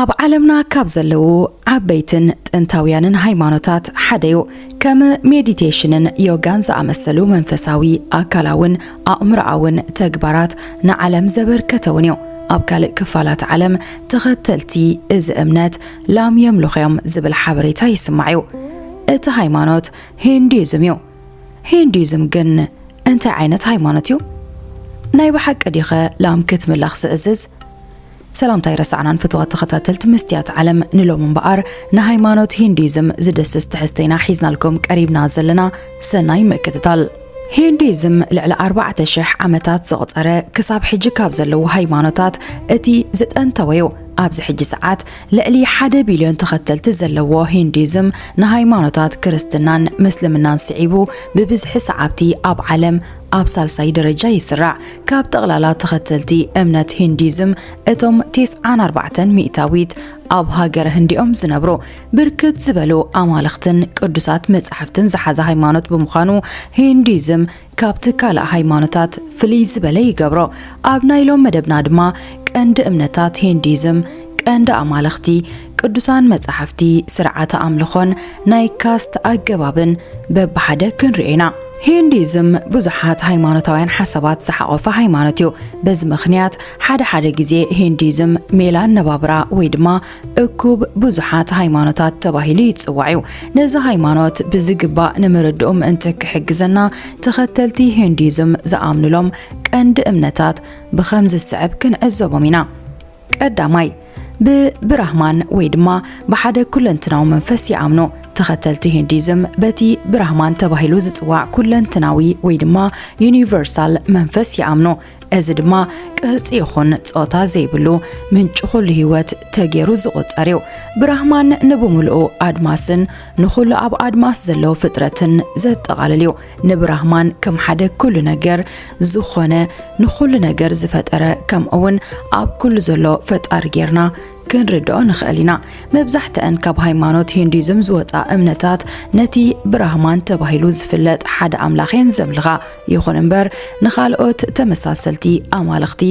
ኣብ ዓለምና ካብ ዘለዉ ዓበይትን ጥንታውያንን ሃይማኖታት ሓደ እዩ። ከም ሜዲቴሽንን ዮጋን ዝኣመሰሉ መንፈሳዊ ኣካላውን ኣእምሮኣውን ተግባራት ንዓለም ዘበርከተውን እዩ። ኣብ ካልእ ክፋላት ዓለም ተኸተልቲ እዚ እምነት ላም የምልኹ እዮም ዝብል ሓበሬታ ይስማዕ እዩ። እቲ ሃይማኖት ሂንዱይዝም እዩ። ሂንዱይዝም ግን እንታይ ዓይነት ሃይማኖት እዩ? ናይ ብሓቂ ዲኸ ላም ክትምለኽ ዝእዝዝ? ሰላምታይ ረሳዕናን ፍትዋት ተኸታተልቲ መስትያት ዓለም ንሎም እምበኣር ንሃይማኖት ሂንዱይዝም ዝድስስ ትሕዝቶ ኢና ሒዝናልኩም ቀሪብና ዘለና ሰናይ ምክትታል ሂንዱይዝም ልዕሊ ኣርባዕተ ሽሕ ዓመታት ዘቑፀረ ክሳብ ሕጂ ካብ ዘለዉ ሃይማኖታት እቲ ዝጠንተወ እዩ። ኣብዚ ሕጂ ሰዓት ልዕሊ ሓደ ቢልዮን ተኸተልቲ ዘለዎ ሂንዱይዝም ንሃይማኖታት ክርስትናን ምስልምናን ስዒቡ ብብዝሒ ሰዓብቲ ኣብ ዓለም ኣብ ሳልሳይ ደረጃ ይስራዕ። ካብ ጠቕላላ ተኸተልቲ እምነት ሂንዱይዝም እቶም ቴስዓን ኣርባዕተን ሚእታዊት ኣብ ሃገረ ህንዲ'ዮም ዝነብሩ። ብርክት ዝበሉ ኣማልኽትን ቅዱሳት መጻሕፍትን ዝሓዘ ሃይማኖት ብምዃኑ ሂንዲዝም ካብቲ ካልእ ሃይማኖታት ፍልይ ዝበለ ይገብሮ። ኣብ ናይ ሎም መደብና ድማ ቀንዲ እምነታት ሂንዲዝም፣ ቀንዲ ኣማልኽቲ፣ ቅዱሳን መጻሕፍቲ፣ ስርዓተ ኣምልኾን ናይ ካስት ኣገባብን በብሓደ ክንርኢ ኢና። ሂንዲዝም ብዙሓት ሃይማኖታውያን ሓሳባት ዝሓቖፈ ሃይማኖት እዩ። በዚ ምኽንያት ሓደ ሓደ ግዜ ሂንዲዝም ሜላ ኣነባብራ ወይ ድማ እኩብ ብዙሓት ሃይማኖታት ተባሂሉ ይጽዋዕ እዩ። ነዚ ሃይማኖት ብዝግባእ ንምርድኡ ምእንቲ ክሕግዘና ተኸተልቲ ሂንዱይዝም ዝኣምኑሎም ቀንዲ እምነታት ብኸምዚ ዝስዕብ ክንዕዘቦም ኢና። ቀዳማይ ብብራህማን ወይ ድማ ብሓደ ኩለንትናዊ መንፈስ ይኣምኑ። ተኸተልቲ ሂንዱይዝም በቲ ብራህማን ተባሂሉ ዝጽዋዕ ኩለንትናዊ ወይ ድማ ዩኒቨርሳል መንፈስ ይኣምኑ። እዚ ድማ ቅርጺ ይኹን ጾታ ዘይብሉ ምንጪ ኩሉ ህይወት ተጌሩ ዝቑጸር እዩ። ብራህማን ንብምሉኡ ኣድማስን ንኹሉ ኣብ ኣድማስ ዘለዉ ፍጥረትን ዘጠቓልል እዩ። ንብራህማን ከም ሓደ ኩሉ ነገር ዝኾነ ንኹሉ ነገር ዝፈጠረ ከምኡውን ኣብ ኩሉ ዘሎ ፈጣሪ ጌርና ክንርድኦ ንኽእል ኢና። መብዛሕትአን ካብ ሃይማኖት ሂንዱይዝም ዝወጻ እምነታት ነቲ ብራህማን ተባሂሉ ዝፍለጥ ሓደ ኣምላኽ እየን ዘምልኻ። ይኹን እምበር ንኻልኦት ተመሳሰልቲ ኣማልኽቲ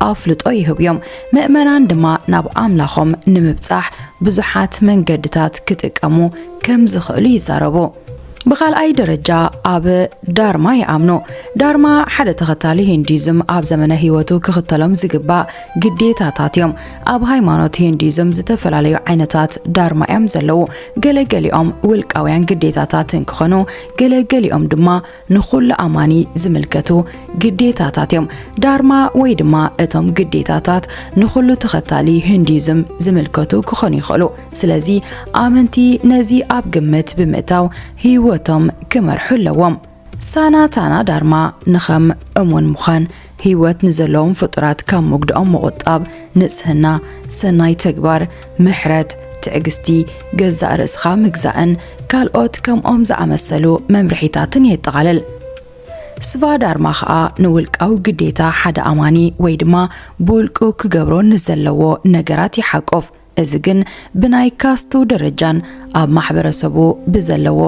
ኣፍልጦ ይህቡ እዮም፣ ምእመናን ድማ ናብ ኣምላኾም ንምብጻሕ ብዙሓት መንገድታት ክጥቀሙ ከም ዝኽእሉ ይዛረቡ። ብኻልኣይ ደረጃ ኣብ ዳርማ ይኣምኑ። ዳርማ ሓደ ተኸታሊ ሂንዱይዝም ኣብ ዘመነ ህይወቱ ክኽተሎም ዝግባእ ግዴታታት እዮም። ኣብ ሃይማኖት ሂንዱይዝም ዝተፈላለዩ ዓይነታት ዳርማ እዮም ዘለዉ። ገለገሊኦም ውልቃውያን ግዴታታት እንክኾኑ ገለገሊኦም ድማ ንኹሉ ኣማኒ ዝምልከቱ ግዴታታት እዮም። ዳርማ ወይ ድማ እቶም ግዴታታት ንኹሉ ተኸታሊ ሂንዱይዝም ዝምልከቱ ክኾኑ ይኽእሉ። ስለዚ ኣመንቲ ነዚ ኣብ ግምት ብምእታው ህይወቶም ክመርሑ ኣለዎም። ሳናታና ዳርማ ንኸም እሙን ምዃን ህይወት ንዘለዎም ፍጡራት ካብ መጉዳኦም ምቑጣብ፣ ንጽህና፣ ሰናይ ተግባር፣ ምሕረት፣ ትዕግስቲ፣ ገዛእ ርእስኻ ምግዛእን ካልኦት ከምኦም ዝኣመሰሉ መምርሒታትን የጠቓልል። ስቫዳርማ ኸኣ ንውልቃዊ ግዴታ ሓደ ኣማኒ ወይ ድማ ብውልቁ ክገብሮ ንዘለዎ ነገራት ይሓቁፍ። እዚ ግን ብናይ ካስትው ደረጃን ኣብ ማሕበረሰቡ ብዘለዎ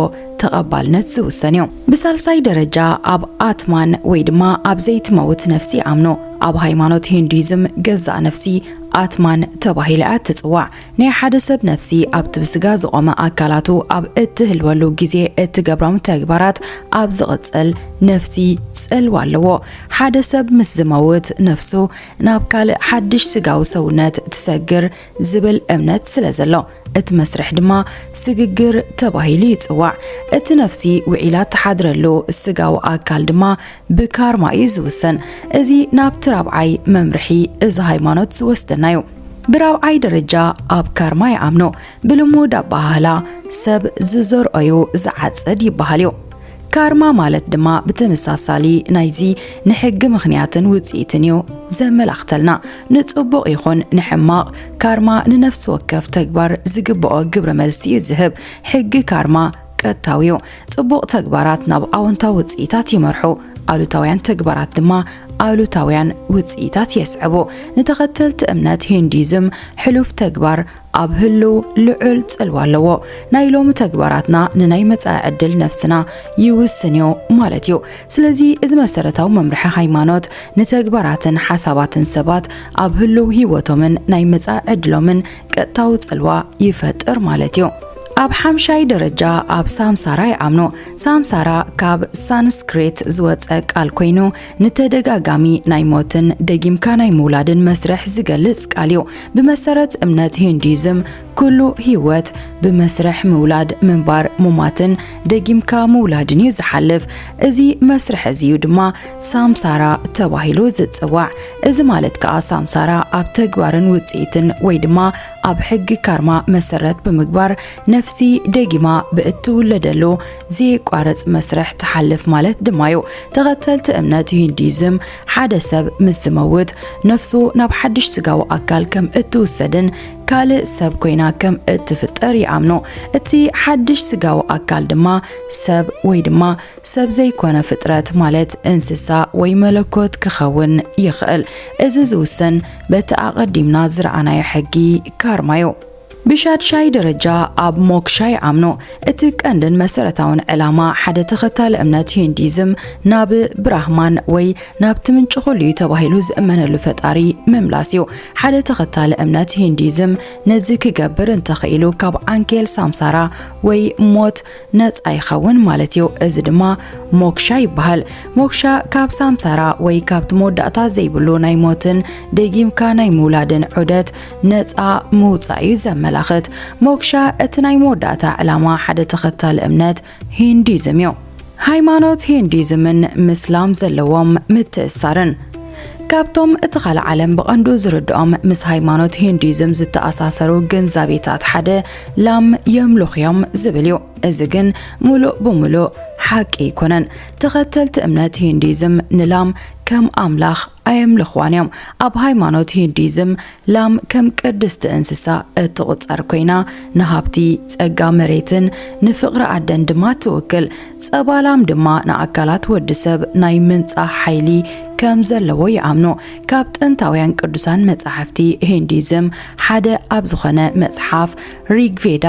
ተቐባልነት ዝውሰን እዩ። ብሳልሳይ ደረጃ ኣብ ኣትማን ወይ ድማ ኣብ ዘይትመውት ነፍሲ ይኣምኑ። ኣብ ሃይማኖት ሂንዱይዝም ገዛእ ነፍሲ ኣትማን ተባሂላ እያ እትጽዋዕ። ናይ ሓደ ሰብ ነፍሲ ኣብቲ ብስጋ ዝቖመ ኣካላቱ ኣብ እትህልወሉ ግዜ እትገብሮም ተግባራት ኣብ ዝቕጽል ነፍሲ ጽልዋ ኣለዎ። ሓደ ሰብ ምስ ዝመውት ነፍሱ ናብ ካልእ ሓድሽ ስጋዊ ሰውነት ትሰግር ዝብል እምነት ስለ ዘሎ እቲ መስርሕ ድማ ስግግር ተባሂሉ ይጽዋዕ። እቲ ነፍሲ ውዒላ እትሓድረሉ ስጋዊ ኣካል ድማ ብካርማ እዩ ዝውሰን። እዚ ናብቲ ራብዓይ መምርሒ እዚ ሃይማኖት ዝወስደና እዩ። ብራብዓይ ደረጃ ኣብ ካርማ ይኣምኑ። ብልሙድ ኣበሃህላ ሰብ ዝዘርኦ እዩ ዝዓጽድ ይበሃል እዩ። ካርማ ማለት ድማ ብተመሳሳሊ ናይዚ ንሕጊ ምኽንያትን ውጽኢትን እዩ ዘመላኽተልና። ንጽቡቕ ይኹን ንሕማቕ ካርማ ንነፍሲ ወከፍ ተግባር ዝግብኦ ግብረ መልሲ እዩ ዝህብ። ሕጊ ካርማ ቀጥታዊ እዩ። ጽቡቕ ተግባራት ናብ ኣወንታዊ ውጽኢታት ይመርሑ፣ ኣሉታውያን ተግባራት ድማ ኣሉታውያን ውጽኢታት የስዕቡ። ንተኸተልቲ እምነት ሂንዱይዝም ሕሉፍ ተግባር ኣብ ህልው ልዑል ጽልዋ ኣለዎ። ናይ ሎሚ ተግባራትና ንናይ መጻኢ ዕድል ነፍስና ይውስን እዩ ማለት እዩ። ስለዚ እዚ መሰረታዊ መምርሒ ሃይማኖት ንተግባራትን ሓሳባትን ሰባት ኣብ ህልው ህይወቶምን ናይ መጻኢ ዕድሎምን ቀጥታዊ ጽልዋ ይፈጥር ማለት እዩ። ኣብ ሓምሻይ ደረጃ ኣብ ሳምሳራ ይኣምኑ። ሳምሳራ ካብ ሳንስክሪት ዝወፀ ቃል ኮይኑ ንተደጋጋሚ ናይ ሞትን ደጊምካ ናይ ምውላድን መስርሕ ዝገልጽ ቃል እዩ። ብመሰረት እምነት ሂንዱይዝም ኩሉ ህይወት ብመስርሕ ምውላድ፣ ምንባር፣ ሙማትን ደጊምካ ምውላድን እዩ ዝሓልፍ። እዚ መስርሕ እዚ እዩ ድማ ሳምሳራ ተባሂሉ ዝጽዋዕ። እዚ ማለት ከዓ ሳምሳራ ኣብ ተግባርን ውጽኢትን ወይ ድማ ኣብ ሕጊ ካርማ መሰረት ብምግባር ነፍሲ ደጊማ ብእትውለደሉ ዘየቋርጽ መስርሕ ትሓልፍ ማለት ድማ እዩ። ተኸተልቲ እምነት ሂንዱይዝም ሓደ ሰብ ምስ ዝመውት ነፍሱ ናብ ሓድሽ ስጋዊ ኣካል ከም እትውሰድን ካልእ ሰብ ኮይና ከም እትፍጠር ይኣምኑ። እቲ ሓድሽ ስጋዊ ኣካል ድማ ሰብ ወይ ድማ ሰብ ዘይኮነ ፍጥረት ማለት እንስሳ ወይ መለኮት ክኸውን ይኽእል። እዚ ዝውሰን በቲ ኣቐዲምና ዝረኣናዮ ሕጊ ካርማ እዩ። ብሻድሻይ ደረጃ ኣብ ሞክሻ ይኣምኑ። እቲ ቀንድን መሰረታውን ዕላማ ሓደ ተኸታሊ እምነት ሂንዲዝም ናብ ብራህማን ወይ ናብቲ ምንጪ ኩሉ እዩ ተባሂሉ ዝእመነሉ ፈጣሪ ምምላስ እዩ። ሓደ ተኸታሊ እምነት ሂንዲዝም ነዚ ክገብር እንተኽኢሉ ካብ ዓንኬል ሳምሳራ ወይ ሞት ነጻ ይኸውን ማለት እዩ። እዚ ድማ ሞክሻ ይበሃል። ሞክሻ ካብ ሳምሳራ ወይ ካብቲ መወዳእታ ዘይብሉ ናይ ሞትን ደጊምካ ናይ ምውላድን ዑደት ነጻ ምውጻእ እዩ ዘመላኽት። ሞክሻ እቲ ናይ መወዳእታ ዕላማ ሓደ ተኸታሊ እምነት ሂንዲዝም እዩ። ሃይማኖት ሂንዲዝምን ምስላም ዘለዎም ምትእሳርን ካብቶም እቲ ካልእ ዓለም ብቐንዱ ዝርድኦም ምስ ሃይማኖት ሂንዲዝም ዝተኣሳሰሩ ግንዛቤታት ሓደ ላም የምልኹ እዮም ዝብል እዩ። እዚ ግን ሙሉእ ብሙሉእ ሓቂ ኣይኮነን። ተኸተልቲ እምነት ሂንዱይዝም ንላም ከም ኣምላኽ ኣየምልኽዋን እዮም። ኣብ ሃይማኖት ሂንዱይዝም ላም ከም ቅድስቲ እንስሳ እትቑጸር ኮይና ንሃብቲ፣ ጸጋ መሬትን ንፍቕሪ ኣደን ድማ ትውክል። ጸባ ላም ድማ ንኣካላት ወዲ ሰብ ናይ ምንጻህ ሓይሊ ከም ዘለዎ ይኣምኑ። ካብ ጥንታውያን ቅዱሳን መጻሕፍቲ ሂንዱይዝም ሓደ ኣብ ዝኾነ መጽሓፍ ሪግቬዳ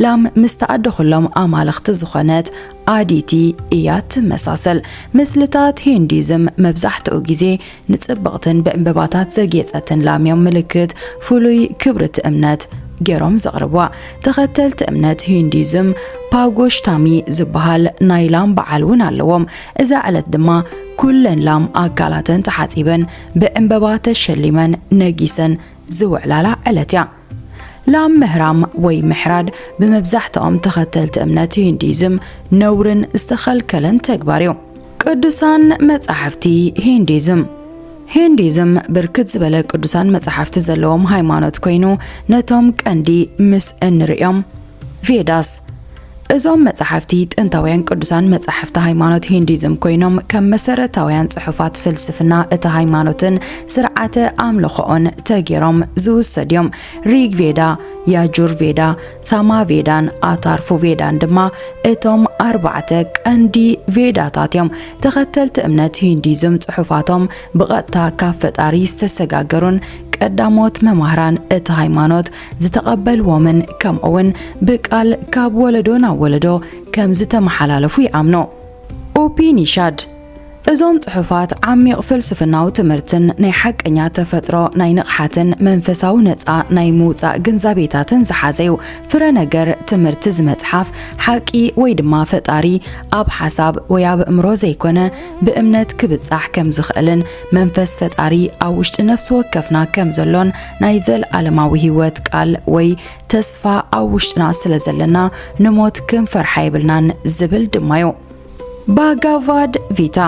ላም ምስ ተኣደኹሎም ኣማልኽቲ ዝኾነት ኣዲቲ እያ ትመሳሰል። ምስልታት ሂንዱይዝም መብዛሕትኡ ግዜ ንጽብቕትን ብዕምበባታት ዘጌጸትን ላም እዮም ምልክት ፍሉይ ክብሪ እቲ እምነት ገይሮም ዘቕርብዋ። ተኸተልቲ እምነት ሂንዱይዝም ፓጎሽታሚ ዝበሃል ናይ ላም በዓል እውን ኣለዎም። እዛ ዕለት ድማ ኩለን ላም ኣካላተን ተሓጺበን ብዕምበባ ተሸሊመን ነጊሰን ዝውዕላላ ዕለት እያ። ላም ምህራም ወይ ምሕራድ ብመብዛሕትኦም ተኸተልቲ እምነት ሂንዲዝም ነውርን ዝተኸልከለን ተግባር እዩ። ቅዱሳን መጻሕፍቲ ሂንዲዝም ሂንዲዝም ብርክት ዝበለ ቅዱሳን መጻሕፍቲ ዘለዎም ሃይማኖት ኮይኑ ነቶም ቀንዲ ምስ እንርእዮም ቬዳስ እዞም መጻሕፍቲ ጥንታውያን ቅዱሳን መጻሕፍቲ ሃይማኖት ሂንዲዝም ኮይኖም ከም መሰረታውያን ጽሑፋት ፍልስፍና እቲ ሃይማኖትን ስርዓተ ኣምልኾኦን ተጌሮም ዝውሰድ እዮም። ሪግ ቬዳ፣ ያጁር ቬዳ፣ ሳማ ቬዳን ኣታርፉ ቬዳን ድማ እቶም ኣርባዕተ ቀንዲ ቬዳታት እዮም። ተኸተልቲ እምነት ሂንዲዝም ጽሑፋቶም ብቐጥታ ካብ ፈጣሪ ዝተሰጋገሩን ቀዳሞት መማህራን እቲ ሃይማኖት ዝተቐበልዎምን ከምኡውን ብቃል ካብ ወለዶ ናብ ወለዶ ከም ዝተመሓላለፉ ይኣምኑ። ኡፒኒሻድ እዞም ጽሑፋት ዓሚቕ ፍልስፍናዊ ትምህርትን ናይ ሓቀኛ ተፈጥሮ ናይ ንቕሓትን መንፈሳዊ ነፃ ናይ ምውፃእ ግንዛቤታትን ዝሓዘ እዩ። ፍረ ነገር ትምህርቲ እዚ መጽሓፍ ሓቂ ወይ ድማ ፈጣሪ ኣብ ሓሳብ ወይ ኣብ እምሮ ዘይኮነ ብእምነት ክብጻሕ ከም ዝኽእልን መንፈስ ፈጣሪ ኣብ ውሽጢ ነፍሲ ወከፍና ከም ዘሎን ናይ ዘለዓለማዊ ህይወት ቃል ወይ ተስፋ ኣብ ውሽጥና ስለ ዘለና ንሞት ክንፈርሓ የብልናን ዝብል ድማዮ። ባጋቫድ ቪታ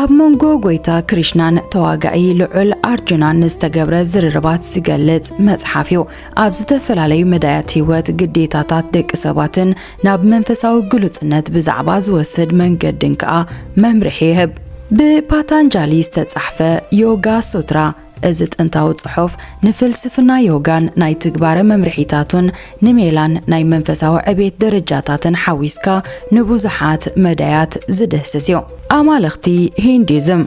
ኣብ መንጎ ጎይታ ክሪሽናን ተዋጋዒ ልዑል ኣርጁናን ዝተገብረ ዝርርባት ዝገልጽ መጽሓፍ እዩ። ኣብ ዝተፈላለዩ መዳያት ህይወት ግዴታታት ደቂ ሰባትን ናብ መንፈሳዊ ግሉጽነት ብዛዕባ ዝወስድ መንገድን ከኣ መምርሒ ይህብ። ብፓታንጃሊ ዝተጻሕፈ ዮጋ ሱትራ እዚ ጥንታዊ ጽሑፍ ንፍልስፍና ዮጋን ናይ ትግባረ መምርሒታቱን ንሜላን ናይ መንፈሳዊ ዕቤት ደረጃታትን ሓዊስካ ንብዙሓት መዳያት ዝድህስስ እዩ። ኣማልኽቲ ሂንዱይዝም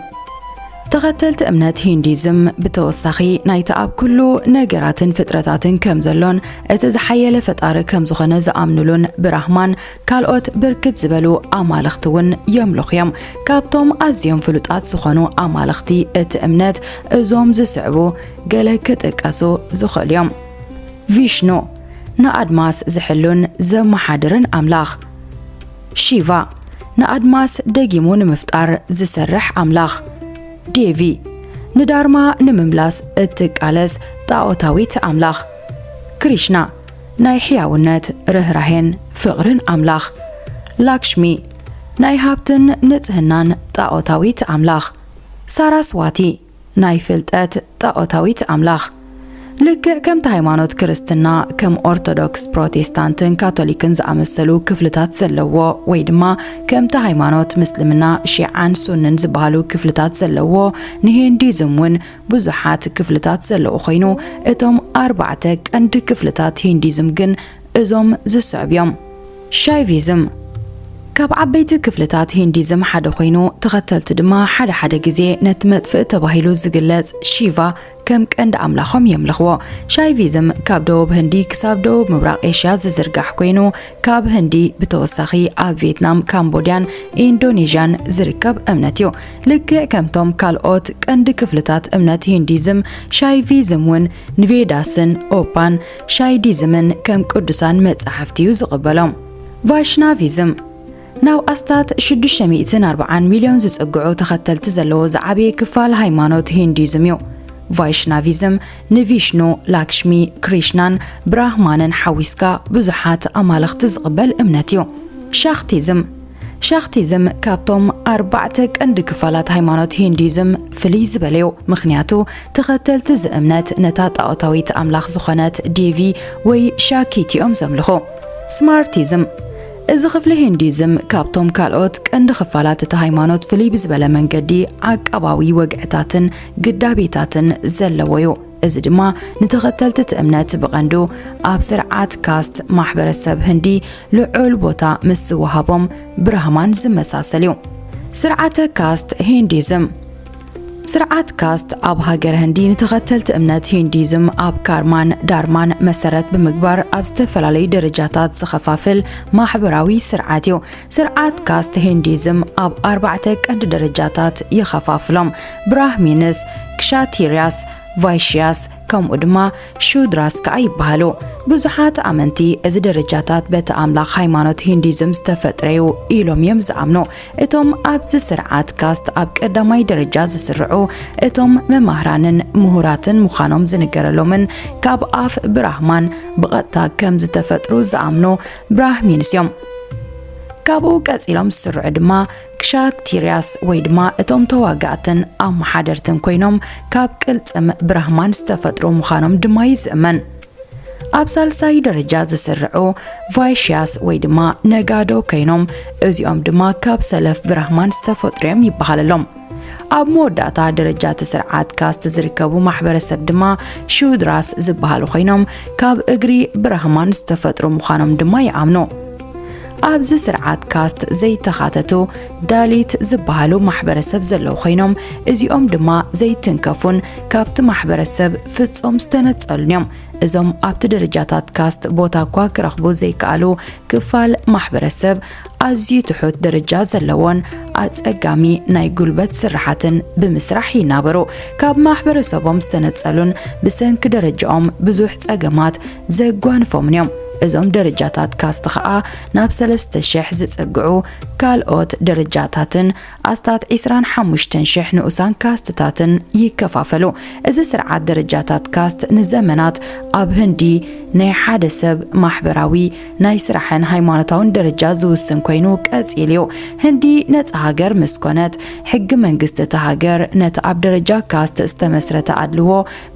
ተኸተልቲ እምነት ሂንዱይዝም ብተወሳኺ ናይቲ ኣብ ኩሉ ነገራትን ፍጥረታትን ከም ዘሎን እቲ ዝሓየለ ፈጣሪ ከም ዝኾነ ዝኣምኑሉን ብራህማን ካልኦት ብርክት ዝበሉ ኣማልኽቲ እውን የምልኹ እዮም። ካብቶም ኣዝዮም ፍሉጣት ዝኾኑ ኣማልኽቲ እቲ እምነት እዞም ዝስዕቡ ገለ ክጥቀሱ ዝኽእሉ እዮም። ቪሽኑ ንኣድማስ ዝሕሉን ዘመሓድርን ኣምላኽ። ሺቫ ንኣድማስ ደጊሙ ንምፍጣር ዝሰርሕ ኣምላኽ። ዴቪ ንዳርማ ንምምላስ እትቃለስ ጣዖታዊት ኣምላኽ። ክሪሽና ናይ ሕያውነት ርኅራኄን ፍቕርን ኣምላኽ ላክሽሚ ናይ ሃብትን ንጽህናን ጣዖታዊት ኣምላኽ ሳራስዋቲ ናይ ፍልጠት ጣዖታዊት ኣምላኽ ልክዕ ከምቲ ሃይማኖት ክርስትና ከም ኦርቶዶክስ ፕሮቴስታንትን ካቶሊክን ዝኣመሰሉ ክፍልታት ዘለዎ ወይ ድማ ከምቲ ሃይማኖት ምስልምና ሺዓን ሱንን ዝበሃሉ ክፍልታት ዘለዎ ንሂንዲዝም እውን ብዙሓት ክፍልታት ዘለዎ ኮይኑ፣ እቶም ኣርባዕተ ቀንዲ ክፍልታት ሂንዲዝም ግን እዞም ዝስዕብ እዮም። ሻይቪዝም ካብ ዓበይቲ ክፍልታት ሂንዲዝም ሓደ ኮይኑ፣ ተኸተልቱ ድማ ሓደ ሓደ ግዜ ነቲ መጥፍኢ ተባሂሉ ዝግለጽ ሺቫ ከም ቀንዲ ኣምላኾም የምልኽዎ። ሻይቪዝም ካብ ደቡብ ህንዲ ክሳብ ደቡብ ምብራቕ ኤሽያ ዝዝርጋሕ ኮይኑ፣ ካብ ህንዲ ብተወሳኺ ኣብ ቪየትናም፣ ካምቦድያን ኢንዶኔዥያን ዝርከብ እምነት እዩ። ልክዕ ከምቶም ካልኦት ቀንዲ ክፍልታት እምነት ሂንዲዝም፣ ሻይቪዝም እውን ንቬዳስን ኦፓን ሻይዲዝምን ከም ቅዱሳን መጻሕፍቲ እዩ ዝቕበሎም። ቫይሽናቪዝም ናብ ኣስታት ሽዱሽተ ሚእትን ኣርብዓን ሚልዮን ዝጽግዑ ተኸተልቲ ዘለዎ ዝዓበየ ክፋል ሃይማኖት ሂንዲዝም እዩ። ቫይሽናቪዝም ንቪሽኑ፣ ላክሽሚ፣ ክሪሽናን ብራህማንን ሓዊስካ ብዙሓት ኣማልኽቲ ዝቕበል እምነት እዩ። ሻክቲዝም ሻክቲዝም ካብቶም ኣርባዕተ ቀንዲ ክፋላት ሃይማኖት ሂንዱይዝም ፍልይ ዝበለ እዩ። ምኽንያቱ ተኸተልቲ እዚ እምነት ነታ ጣዖታዊት ኣምላኽ ዝኾነት ዴቪ ወይ ሻኪቲ እዮም ዘምልኹ። ስማርቲዝም እዚ ክፍሊ ሂንዱይዝም ካብቶም ካልኦት ቀንዲ ክፋላት እቲ ሃይማኖት ፍልይ ብዝበለ መንገዲ ዓቃባዊ ወግዕታትን ግዳቤታትን ዘለዎ እዩ። እዚ ድማ ንተኸተልቲ እቲ እምነት ብቐንዱ ኣብ ስርዓት ካስት ማሕበረሰብ ህንዲ ልዑል ቦታ ምስ ዝወሃቦም ብራህማን ዝመሳሰል እዩ። ስርዓተ ካስት ሂንዲዝም ስርዓት ካስት ኣብ ሃገረ ህንዲ ንተኸተልቲ እምነት ሂንዲዝም ኣብ ካርማን ዳርማን መሰረት ብምግባር ኣብ ዝተፈላለዩ ደረጃታት ዝኸፋፍል ማሕበራዊ ስርዓት እዩ። ስርዓት ካስት ሂንዲዝም ኣብ ኣርባዕተ ቀንዲ ደረጃታት ይኸፋፍሎም፣ ብራህሚንስ፣ ክሻቲርያስ፣ ቫይሽያስ ከምኡ ድማ ሹድራስ ከኣ ይበሃሉ። ብዙሓት ኣመንቲ እዚ ደረጃታት በቲ ኣምላኽ ሃይማኖት ሂንዱይዝም ዝተፈጥረ እዩ ኢሎም እዮም ዝኣምኑ። እቶም ኣብዚ ስርዓት ካስት ኣብ ቀዳማይ ደረጃ ዝስርዑ እቶም መማህራንን ምሁራትን ምዃኖም ዝንገረሎምን ካብ ኣፍ ብራህማን ብቐጥታ ከም ዝተፈጥሩ ዝኣምኑ ብራህሚንስ እዮም። ካብኡ ቀጺሎም ዝስርዑ ድማ ክሻክቲርያስ ወይ ድማ እቶም ተዋጋእትን ኣመሓደርትን ኮይኖም ካብ ቅልጽም ብራህማን ዝተፈጥሩ ምዃኖም ድማ እዩ ዝእመን። ኣብ ሳልሳይ ደረጃ ዝስርዑ ቫይሽያስ ወይ ድማ ነጋዶ ኮይኖም እዚኦም ድማ ካብ ሰለፍ ብራህማን ዝተፈጥሩ እዮም ይበሃለሎም ኣብ መወዳእታ ደረጃ እቲ ስርዓት ካስት ዝርከቡ ማሕበረሰብ ድማ ሹድራስ ዝበሃሉ ኮይኖም ካብ እግሪ ብራህማን ዝተፈጥሩ ምዃኖም ድማ ይኣምኑ ኣብዚ ስርዓት ካስት ዘይተኻተቱ ዳሊት ዝበሃሉ ማሕበረሰብ ዘለዉ ኮይኖም እዚኦም ድማ ዘይትንከፉን ካብቲ ማሕበረሰብ ፍጹም ዝተነጸሉን እዮም። እዞም ኣብቲ ደረጃታት ካስት ቦታ እኳ ክረኽቡ ዘይከኣሉ ክፋል ማሕበረሰብ ኣዝዩ ትሑት ደረጃ ዘለዎን ኣጸጋሚ ናይ ጉልበት ስራሓትን ብምስራሕ ይናበሩ። ካብ ማሕበረሰቦም ዝተነጸሉን ብሰንኪ ደረጃኦም ብዙሕ ጸገማት ዘጓንፎምን እዮም። እዞም ደረጃታት ካስት ኸኣ ናብ ሰለስተ ሽሕ ዝጽግዑ ካልኦት ደረጃታትን ኣስታት ዒስራን ሓሙሽተን ሽሕ ንኡሳን ካስትታትን ይከፋፈሉ። እዚ ስርዓት ደረጃታት ካስት ንዘመናት ኣብ ህንዲ ናይ ሓደ ሰብ ማሕበራዊ፣ ናይ ስራሕን ሃይማኖታውን ደረጃ ዝውስን ኮይኑ ቀጺሉ እዩ። ህንዲ ነጻ ሃገር ምስ ኮነት ሕጊ መንግስቲ እታ ሃገር ነቲ ኣብ ደረጃ ካስት ዝተመስረተ ኣድልዎ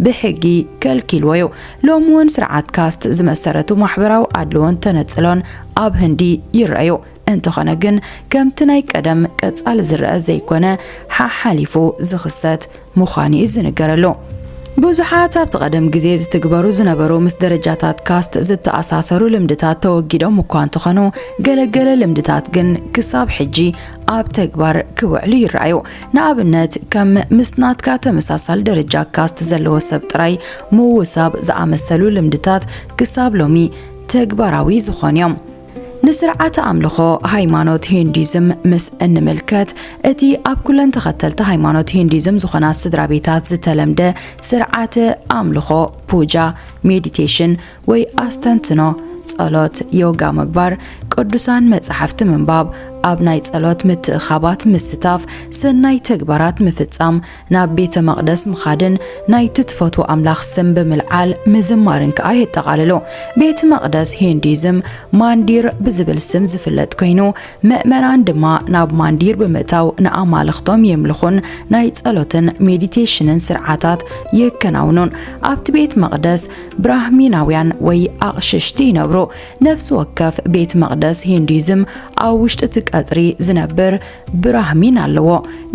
ብሕጊ ከልኪልዎ እዩ። ሎሚ እውን ስርዓት ካስት ዝመሰረቱ ማሕበራዊ ኣድልዎን ተነጽሎን ኣብ ህንዲ ይረኣዩ። እንተኾነ ግን ከምቲ ናይ ቀደም ቀጻሊ ዝረአ ዘይኮነ ሓሓሊፉ ዝኽሰት ምዃኑ እዩ ዝንገረሉ። ብዙሓት ኣብቲ ቀደም ግዜ ዝትግበሩ ዝነበሩ ምስ ደረጃታት ካስት ዝተኣሳሰሩ ልምድታት ተወጊዶም እኳ እንተኾኑ ገለገለ ልምድታት ግን ክሳብ ሕጂ ኣብ ተግባር ክውዕሉ ይረኣዩ። ንኣብነት ከም ምስ ናትካ ተመሳሳል ደረጃ ካስት ዘለዎ ሰብ ጥራይ ምውሳብ ዝኣመሰሉ ልምድታት ክሳብ ሎሚ ተግባራዊ ዝኾኑ እዮም። ንስርዓተ ኣምልኾ ሃይማኖት ሂንዱይዝም ምስ እንምልከት እቲ ኣብ ኩለን ተኸተልቲ ሃይማኖት ሂንዱይዝም ዝኾና ስድራ ቤታት ዝተለምደ ስርዓተ ኣምልኾ ፑጃ፣ ሜዲቴሽን፣ ወይ ኣስተንትኖ፣ ጸሎት፣ ዮጋ ምግባር፣ ቅዱሳን መጻሕፍቲ ምንባብ፣ ኣብ ናይ ጸሎት ምትእኻባት ምስታፍ፣ ሰናይ ተግባራት ምፍጻም፣ ናብ ቤተ መቕደስ ምኻድን ናይቲ ትፈትዎ ኣምላኽ ስም ብምልዓል ምዝማርን ከኣ የጠቓልሉ። ቤት መቕደስ ሂንዱይዝም ማንዲር ብዝብል ስም ዝፍለጥ ኮይኑ፣ ምእመናን ድማ ናብ ማንዲር ብምእታው ንኣማልኽቶም የምልኹን ናይ ጸሎትን ሜዲቴሽንን ስርዓታት የከናውኑን። ኣብቲ ቤት መቕደስ ብራህሚናውያን ወይ ኣቕሽሽቲ ይነብሩ። ነፍሲ ወከፍ ቤት መቕደስ ሂንዱይዝም ኣብ ውሽጢ እቲ ቀጽሪ ዝነብር ብራህሚን ኣለዎ።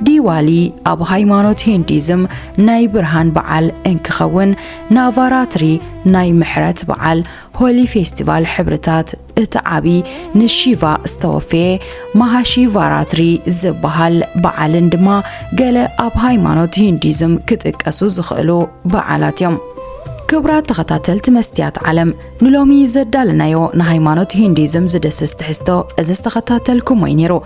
ዲዋሊ ኣብ ሃይማኖት ሂንዱይዝም ናይ ብርሃን በዓል እንክኸውን፣ ናቫራትሪ ናይ ምሕረት በዓል፣ ሆሊ ፌስቲቫል ሕብርታት፣ እቲ ዓቢ ንሺቫ ዝተወፈየ ማሃሺ ቫራትሪ ዝበሃል በዓልን ድማ ገለ ኣብ ሃይማኖት ሂንዲዝም ክጥቀሱ ዝኽእሉ በዓላት እዮም። ክብራት ተኸታተልቲ መስትያት ዓለም ንሎሚ ዘዳለናዮ ንሃይማኖት ሂንዲዝም ዝድስስ ትሕዝቶ እዚ ዝተኸታተልኩሞ እዩ ነይሩ።